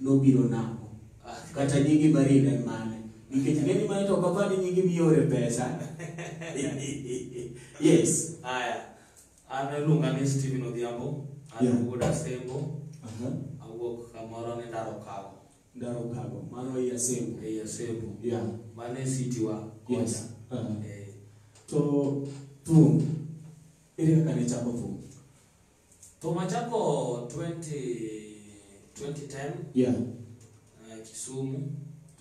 nobiro namo. Ah, kata nyingi Marin en mane? Nikech ng'eni mane to kapa ni nyingi miore pesa. yes. Aya. An iluonga ni Steven Odhiambo. An yeah. wuod Asembo. Uh -huh. Awuok kamoro ni Ndaro Kago. Ndaro Kago. Mano ei Asembo. Ei Asembo. Yeah. Mano e city wa. Yes. Uh -huh. eh. To thum. Ere kaka ne chako thum? Thum achako 20 2010 Yeah. eh, Kisumu.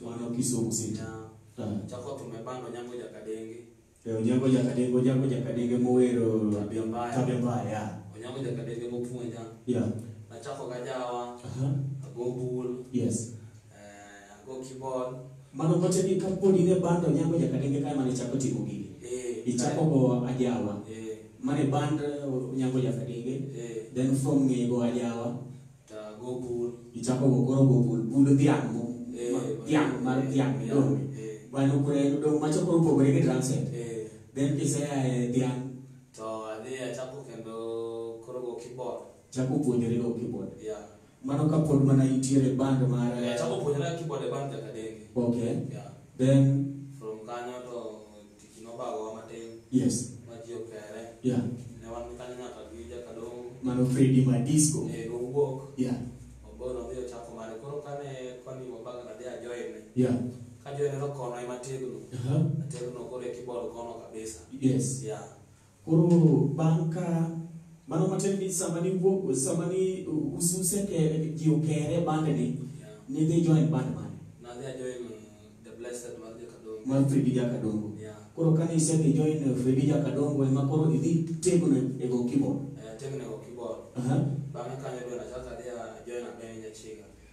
Mano Kisumu City. Yeah. Ah. Chako thum e bando Nyango Jakadenge. Eh, Onyango Jakadenge, Onyango Jakadenge mowero Tabia mbaya. Tabia mbaya. yeah. Onyango Jakadenge mopuonja. Yeah. Nachako gajawa, Aha. ago bul, Yes. eh, ango kibol Mano kote ni kapod in e band onyango nyaka denge kae mane ichako timo gigi. eh Ichako go ajawa. eh Mane band uh, onyango nyaka denge. eh Then from ng'e go ajawa. ta go bul Ichako go koro go bul bul dhiang' mo. eh ma- Dhiang' mar dhiang' eh midong'. eh Bano kure dong' macho koro pogore gi drum set. eh Then kisea e dhiang' to adhi achako kendo koro go kibol Chako puonjori go keyboard. Yeah. Mano ka pod mana intiere e band mar Yeah, chako puonjora keyboard e band kaka denge. Okay. Yeah. Then From kanyo to tich nobagowa matin yes. ma ji okere. Yeah. Ne wan kanyo nyaka gi jakadongo. Mano Freddy Madisco. Eh, nowuok. Yeah. Oboyo nodhi ochako mare. Koro kane kwani wabago nadhi ajoine. Yeah. Kajoine nokona ema tegno. Uh-huh. Ategno koro e keyboard kono kabisa. Yes. Yeah. Koro bang' ka mano matiende ni sama ni wuok sama ni ususe ke ji okere bande ni ni dhi join band mane? Na dhi join the blessed mar Jakadongo. Mar Fredi Jakadongo. Yeah. Koro kane isedhi join Fredi Jakadongo ema koro idhi tegno e go keyboard. Eh, tegno e go keyboard. Uh -huh. Bang'e kanyo dwe nachako adhi join Abeni Nyachiga.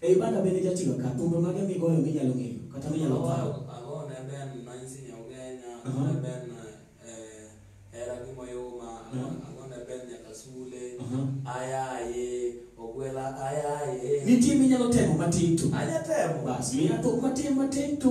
E Uganda bende ijatiga ka? Thumbe mage migoyo minyalo ng'eyo kata minyalo paro? Ago ne ben Nancy Nyaugenya, ago ne ben eh, Hera gi Moyuma, ago ne ben nyaka Sule, ayaye, ogwela ayaye. Nitie minyalo temo matin tu? Anya temo. Bas, miya thum matin matin tu.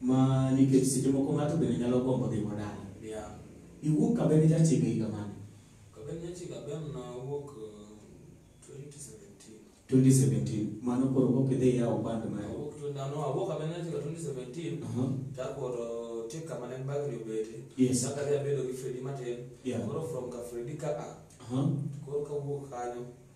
Ma nikech seche moko ng'ato bende nyalo gombo dhi modala. Yeah. Iwuok Kabene Jachiga higa mane? Kabene Jachiga ben na wuok uh, 2017. 2017. Mano koro kok idhi yawo band ma. Awuok to ndano awuok Kabene Jachiga 2017. Aha. Takoro tik kama ne bagni obete. Yes. Saka dhi abedo gi Fredi matin. Yeah. Koro from ka Fredi ka a. Aha. Koro kawuok kanyo.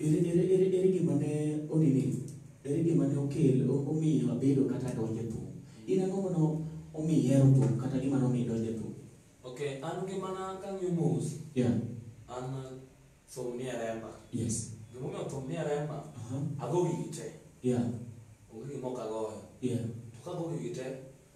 Ere, ere, ere, ere gima ne onini, ere gima ne okel, o- omiyo abedo kata donje thum? In ang'o mano omi ihero thum kata gima nomiyo idonje thum? Okay, an ngimana kang'iyo mos, Yeah, an thum nie remba. yes. Gimomiyo thum nie remba, Aha, ago gigi te. yeah, Onge gima ok agoyo. yeah, To kago gigi te,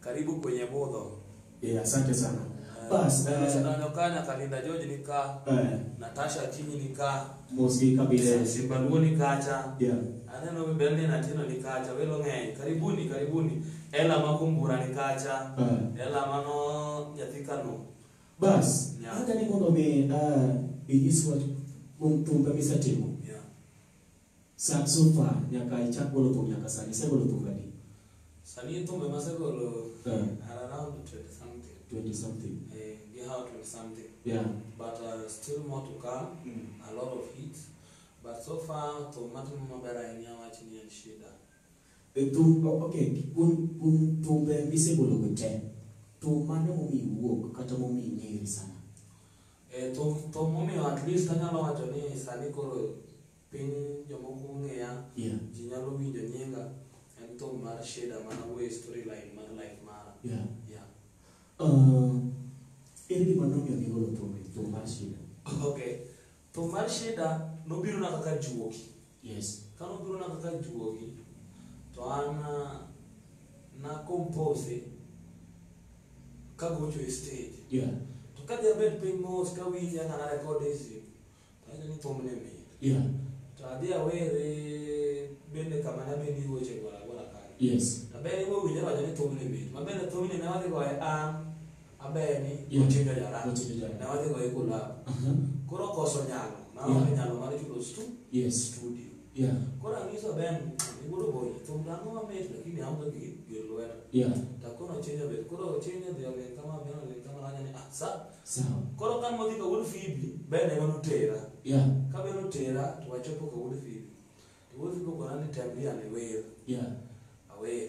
Karibu kwenye budho. Eh, asante sana. Bas, eh, Naonekana kana Kalinda George ni ka, eh, Natasha Kinyi ni ka, mosi kabisa. Simba Luo ni kacha. Yeah. Aneno bende ni natino ni kacha, welo ng'eny. Karibuni, karibuni. Ela ma kumbura ni kacha. Eh. Ela mano nyathi Kano. Bas, Yeah. hata ni mondo mi ah, inyis wach mum tumbe misetimo. Yeah. Sa so far nyaka ichak golo thum nyaka sani isegolo thum adi? Sani thum ema asegolo Eh. are around 20 something. 20 something. Eh, gi how 20 something. Yeah. But uh, still more to come, a lot of hits. But so far thum matimo maber ahinya wach ni en shida. E thum o- okay kuom kuom thumbe misegolo go te thum mane momiyi wuok kata momiyi ng'eri sana? Eh, to, to momiyo at least anyalo wacho ni sani koro piny jomoko ong'eya Yeah. ji nyalo winjo nyinga en thum mar sheda mana wuoye storyline mar life mara Yeah. yeah. Uh, ere gima nomiyo nigolo thumbe thum mar shida okay thum mar sheda nobirona kaka juoki Yes. Kama obiro na kaka juogi to an ah, na compose kagocho e stage. Yeah. To ka dhi abed piny mos kawinje aka na record easy. To ayudo ni thum ne mit. Yeah. To adhi awere bende kama nabendi weche gwara gwara kanyo. Yes. Abende iwe winjo wacho ni thum ne mit. Mabende thumni ne wadhi goye an maber ni Yeah. notindo jara Notindo jara. ne wadhi goye kulab Aha. koro koso nyalo naonge Yeah. nyalo mar chulo stu Yes. studio Yeah. koro anyiso ben igolo boye thum dhano mamit lakini aonge gi gir lwedo Yeah. takono chenja bet koro chenja dhi oleng kama ben oleng kama nanya ni ah sa Sawa. koro kan modhi ka wuod fibi ben ema notera Yeah. ka ben otera to wachopo ka wuod fibi to wuod fibi okona ni tem dhi ane wer Yeah. awer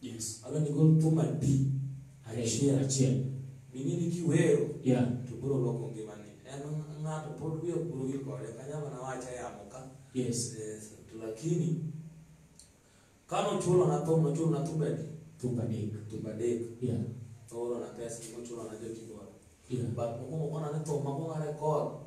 Yes. Ano ni go to ma di. Achiel achiel. Mini ni kiwero. Yeah. To bro loko ngima ni. En ng'ato pod wiye bro gi kore. Kanya mana wacha ya moka. Yes. Yes. To lakini kano chulo na to chulo na to bedi. To bedi. To bedi. Yeah. To oro na pesa mo chulo na joti bora. Yeah. But mo mo na to ma mo na record.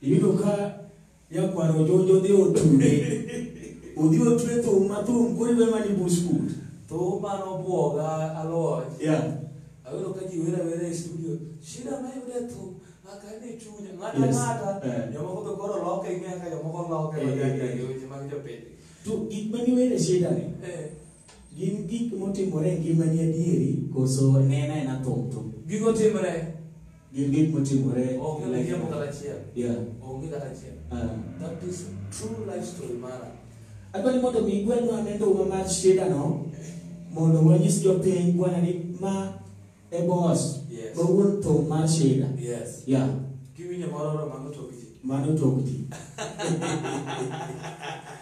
Iyudo ka nyakwar ojonjo dhi otude. Odhi otwe thum ma thum koro iwe mani buskut. Thum mane obwoga aloch. Yeah. Ayudo ka ji wera wera e studio. Shida ma yudo e thum. Akane e chunya. Ng'ata Yes. ng'ata. Eh. Jomoko be koro loke ing'eyo ka jomoko loke. Eh, eh, eh. e Weche mag jopiny. To gik ma niwere shida ni, Eh. gin gik motimore e ngimani adieri koso nena ena thum thum. Gigo timre. Gin gik motimore. Onge miriambo kata achiel. Yeah. Onge kata achiel. Uh. That is true life story mara. Adwani mondo mi gwelwa ne nduma mar shida no mondo wanyis jopiny bwana ni ma e boss. Yes. Bawuon to mar shida. Yes. Yeah. Kiwinyo moro mano to mano to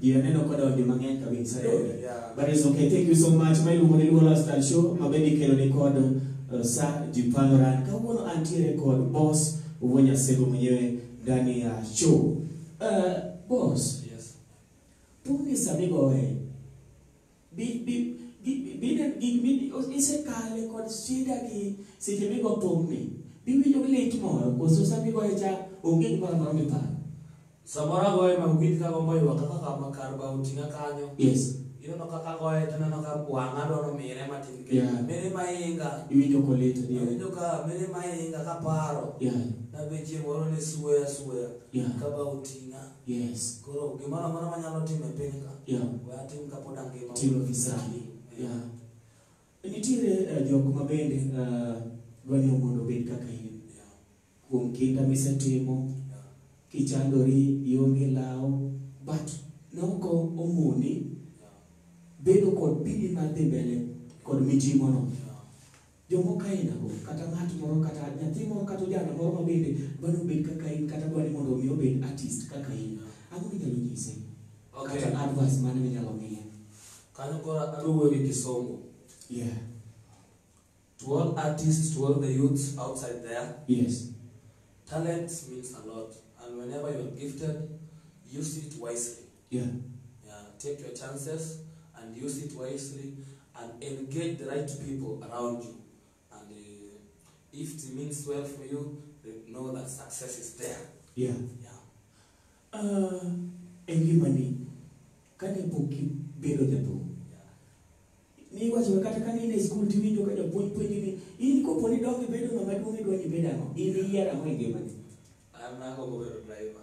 Ji aneno ka donjo mang'eny kabisa. Eh, yeah. But it's okay. Thank you so much. Ma iluongo ni Luo Lifestyle Show ma bende ikelo ni kod uh, Sir Jipano Ran. Kawuono antiere kod boss Uwe Nyasego mwenyewe ndani ya show. Uh, boss, Yes. puni samigoe Bi- bi- gi- bi- bine- gi- mi- isekale kod shida gi seche migo thumni biwinjo gi lit moro koso sama igoye cha onge gimoro amora miparo Samoro agoye ma winj ka gombo ywak kaka kama kar ba oting'a kanyo. yes Ineno kaka agoye to ineno ka wang'a dwaro mire matin kendo. Yeah. Mire ma inga. iwinjo kolit adier Awinjo ka mire ma inga kaparo. yeah Nabe chieng' moro ne suoya suoya. yeah Ka ba oting'a. Yes. Koro gimoro amora manyalo timo e piny ka. Yeah. We atim kapod angima. Timo visani. Yeah. Nitiere uh, jok ma bende uh, dwanyo mondo obed kaka in. Yeah. Kuom kinda misetimo. Yeah. Kichandori ionge law. But noko omoni. Yeah. Bedo kod bidi mar dhi mbele kod mijimono. Yeah. Jomoko ainago, kata ng'at moro, kata nyathi moro, kata ojana moro ma bende dwa ni obed kaka in, kata dwa ni mondo omi obed artist kaka in, ang'o minyalo nyise? Okay. Kata advice mane minyalo miye? Kanyo koro adwa wuoyo gi Kisungu. Yeah. To all artists, to all the youths outside there, Yes. talent means a lot. And whenever you're gifted, use it wisely. Yeah. Yeah, take your chances and use it wisely and engage the right people around you. And uh, if it means well for you, know that success is there. Yeah. Yeah. Uh, engimani kane pok ibedo jathum niwacho kata ka in e skul tiwinjo ka japuonj puonji ni in kopo ni donge bedo ng'ama duong' idwa ni bed ang'o in iyier ang'o e ngimani an agombo bedo driver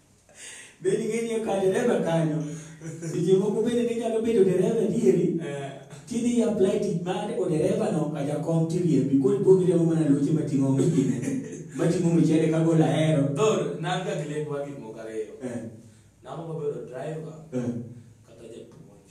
Bende ing'e ni e ka dereva kanyo, seche moko bende ne nyalo bedo dereva adieri, Eh, tidhi i apply tich mar odereva no ka jakom tiriembi, koro ipo giriembo mana loche mating'o mchine, mating'o mchele ka gol ahero. Thor, nanga gilek wa gik moko ariyo. Eh, Namba mabedo driver eh. kata japuonj.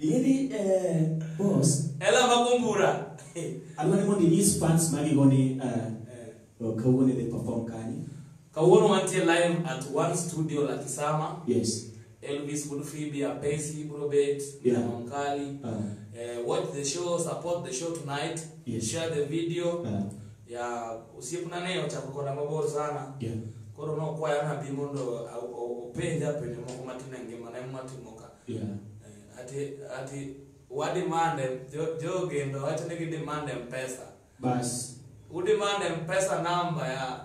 Ing'eni eh, boss, Ela magumbura. adwa ni mondo inyis fans magi go ni eh, eh, kawuono idhi perform kanye. Kawuono wantie live at One Studio la Kisama. Yes. Elvis Bulfibi, Apesi, Brobet, Yeah. Monkali. Ah. Uh, watch the show, support the show tonight. Yes. Share the video. Ah. Ya usiepuna nayo cha kukonda mabor sana. Yeah. Koro no kwa yana bi mondo au- au- upenja penye moko matina ngima na matimoka. Yeah. Eh, Ati ati wa demand em- jo jo gendo wacho ni gi demand em pesa. Bas. U demand em pesa number ya.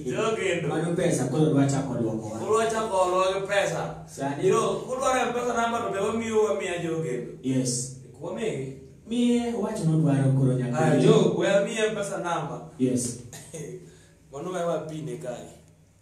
Jo gendo. Mano pesa koro dwa chako dwoko wa. Kulwa chako olwa gi pesa. Sani- Yo kulwa em pesa number to be wamiyo wamiya jo gendo. Yes. Kwamigi. Miye wach nodwaro koro Ah, nyaka. jo wamiya pesa number. Yes. Mano wewa pine kae.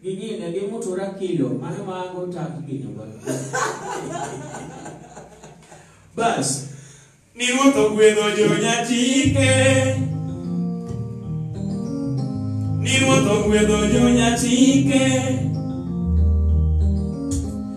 Gingine gimutura kilo mano mago tak gino ba. Bas. Ni ruoth ogwedho jonyatike. Ni ruoth ogwedho jonyatike.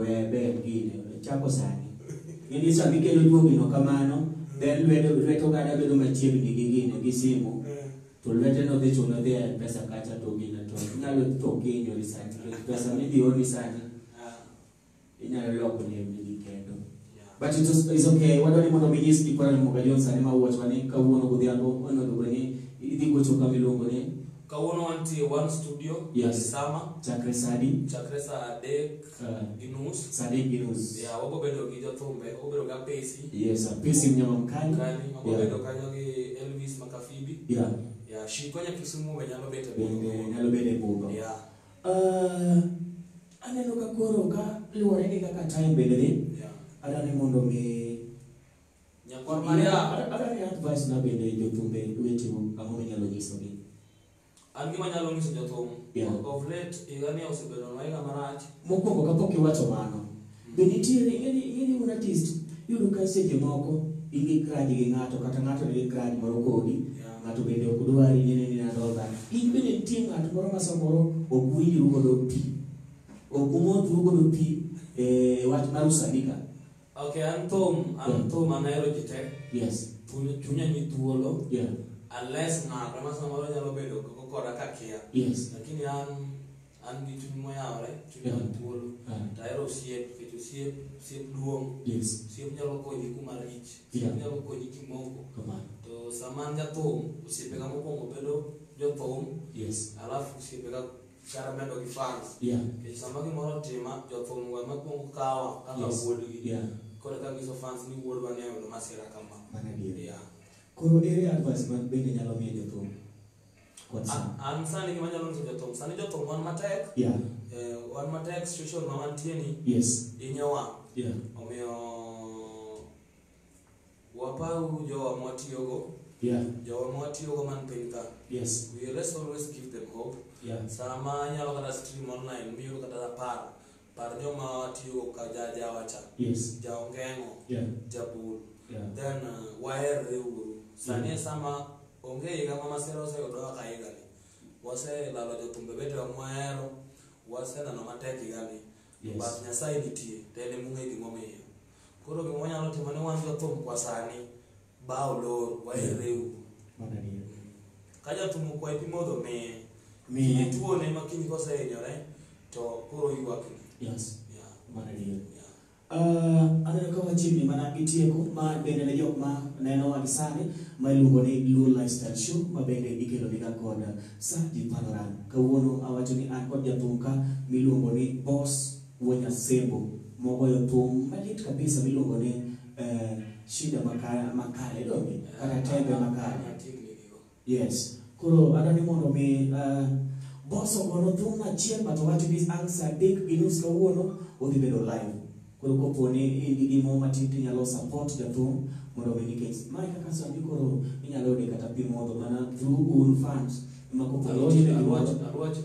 Wee ber gine, chako sani. Ng'e ni sama ikelo juogino kamano, ber lwedo lwet oganda bedo machiegni gi gine gi simu, to lwete no dhi chuno dhi e pesa kacha to gine to inyalo tho kihinyori sani. Pesa midhi ori sani, inyalo loko nembni gi kendo. But it is, it's okay. Wadwa ni mondo mi nyis ni Kora Ramoga Jones sani ma wuotwa ni kawuono godhiambo onego bed ni idhi gocho kama iluongo ni Kawuono wantie one studio Yes. sama chakre sadi chakre saa adek uh, gi nus. sadi gi nus. Ya wabo bedo gi jothumbe, wabo bedo gi apesi. Yes, uh, pesi mnyama mkali. Kani wabo Yeah. bedo kanyo gi Elvis Makafibi. Yeah. Ya shiko nya Kisumu be nyalo bedo Bende nyalo bedo e budho. Ya. Uh, Aneno ka koro ka luwore gi kaka time bende dhi, adwaro ni mondo mi Nyakwar Maria. Adwaro ni advice na bende jothumbe wetewa ang'o minyalo nyisogi. An gima nyalo nyiso jothum, Yeah. of late higani osebedo na higa marach. Mokwongo kapok iwacho mano, Be nitiere any any one artist yudo ka seche moko in gi grudge gi ng'ato kata ng'ato nigi grudge moro kodi Yeah. ng'ato bende ok dwari nene nene adolda in bende nitie ng'at moro ma samoro ok winjru godo pi ok umodhru godo pi e wach mar usanika Okay, an thum, an Yeah. thum anahero ji te. yes Chunya chunya ni thuolo. yeah Unless ng'ato ma samoro nyalo bedo koko koda kakia. yes Lakini an an gi chuny moyawore chunya Yeah. thuolo Ah. to ahero osiep nikech osiep osiep duong' Yes. osiep nyalo konyi kuma rich osiep Yeah. nyalo konyi kimoko Kamano. to sama an jathum osiepega mokwongo bedo jothum Yes. alafu osiepega kara medo gi fans Yeah. nikech sama gimoro otima jothum go ema kwongo kawa kaka Yes. wuodgi Yeah. koro ka nyiso fans ni wuodwa ne oyudo masira kama Mana adier. yeah. Koro ere advice ma bende nyalo miyo jothum? What's up? A- an sani gima nyalo nyiso jothum sani jothum wan matek Yeah. eh, wan matek situation ma wantie ni Yes. inyowa Yeah. omiyo waparu jowa mwatiyogo Yeah. jowa mwatiyogo man piny ka Yes. we let's always give them hope Yeah. sama anyalo kata stream online miyudo kata apar Par joma watiyogo ka ja jawa cha, Yes. ja ongeng'o, Yeah. jabul, Yeah. then uh, waherre uru. Sani e sama onge higa ma masira oseyudowa ka higani. Waselalo jothumbe betewa mwahero, waseneno matek higani. Yes. But Nyasaye nitie, to en emong'e gimomiyo. Koro gima wanyalo timo ni wan jothum kwa sani, Ba olor, waherreu. Mano adier. Ka jathum okwayi pi modho miye. Miye. Kiny tuone ma kiny kosehinyore to koro ywakni. Yes. Yeah. Mano adier. Yeah. Uh, aneno ka wachiegni mana gi tieko ma bende ne jok ma neno wan sani ma iluongo ni Luo Lifestyle Show ma bende ikelo ni ga kod Sir Jipaloran. Kawuono awacho ni an kod jathum ka miluongo ni Boss Wuo Nyasembo mogoyo thum malit kabisa miluongo ni eh, shida makale makale donge kata tembe makale yes koro adwani mondo mi uh, bos ogono thum achiel but owacho ni ang' saa adek gi nus kawuono odhi bedo live koro kopo ni in gi gimo matin to inyalo support jathum mondo mi nikech mae kaka sani koro inyalo yude kata pi modho mana through un fans ma kopo ni nitie gimoro Arwach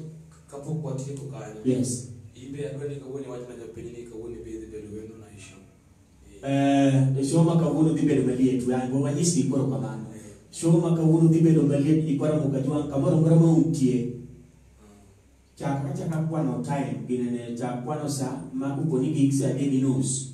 Kapok watieko kanyo. Yes. Ibe adwa ni kawuono iwach na jopiny ni kawuono ibe idhi bedo wendo na isho. Eh, e show ma kawuono dhi bedo maliet. We ango wanyis gi koro kamano. Show ma kawuono dhi bedo maliet ni kwara muka jwang kamoro mora ma untie. Chak achaka kwano time ginene chak kwano sa ma uponi gig sa adek gi nus.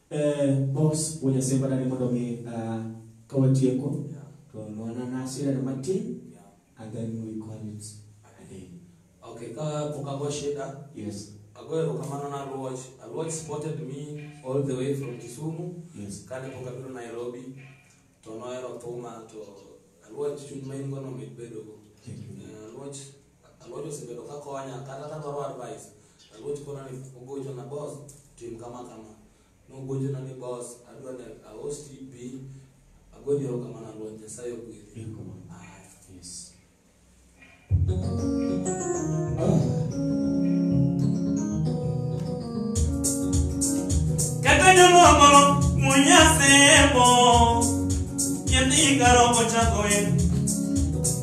Eh, boss wanyasema nani mondo mi ah, ka watieko Yeah. to nwana nasira na matin Yeah. and then we call it a day Okay, ka pok ago shida, yes ago erokamano na Aluoch. Aluoch supported me all the way from Kisumu. yes Kane pok abiro Nairobi, to nohero thuma to Aluoch chuny ma in go nomit bedogo. thank you Eh, Aluoch Aluoch osebedo ka konya kata ka dwaro advice. Aluoch kona ni ogochona boss tim kama kama. Nogochona ni boss adwa ni aos TB. Agoyo erokamano Aluoch Nyasaye ogwedhi. Erokamano. Aya. Yes. Kaka jomoko munya semo, nyathi karo ochako en